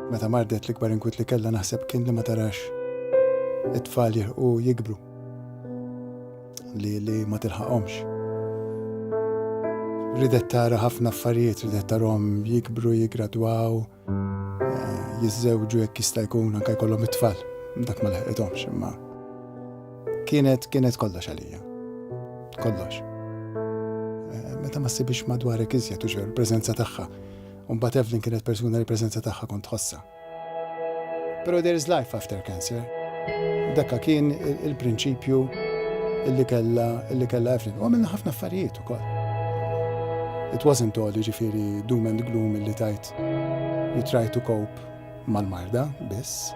Meta mardet l-ikbar inkwiet li kellha naħseb kien li ma tarax it-tfal jirħu jikbru li li ma tilħaqhomx. Ridet tara ħafna affarijiet, ridet tarhom jikbru, jigradwaw, eh, jiżżewġu jekk jista' jkun anke jkollhom it-tfal. Dak ma leħqithomx imma kienet kienet kollox għalija. Kollox. Eh, meta ma ssibix madwarek iżjed u ġew il-preżenza tagħha U mbagħad Evelyn kienet persuna li l-preżenza tagħha kont tħossha. Però there is life after cancer. Dakka kien il-prinċipju illi kella illi kella Evelyn. U għamilna ħafna affarijiet ukoll. It wasn't all jiġifieri doom and gloom illi tajt you try to cope mal-marda biss.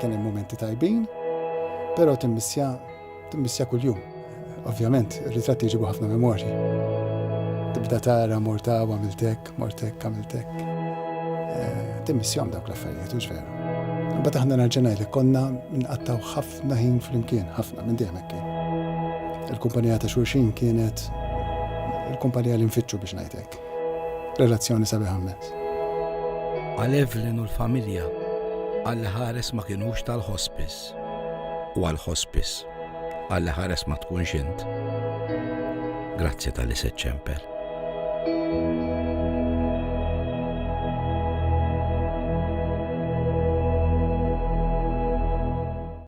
Kien hemm momenti tajbin, però timmissja Timmissja kuljum. Ovvjament, ir-ritratti jġibu ħafna memorji. Tibda tara morta u għamiltek, mortek, għamiltek. Eh, timmissjom dawk l-affarijiet, u ġveru. Bat aħna narġenaj li konna nqattaw ħafna ħin fl-imkien, ħafna minn dejjem kien. Il-kumpanija ta' xurxin kienet il-kumpanija li nfittxu biex ngħidlek. Relazzjoni sabiħ ħammet. Għal Evelyn u l-familja, għal ħares ma kienux tal-hospice. ħares u għal ħospis għalli ħares ma tkunx int. Grazzi tal-li seċċempel.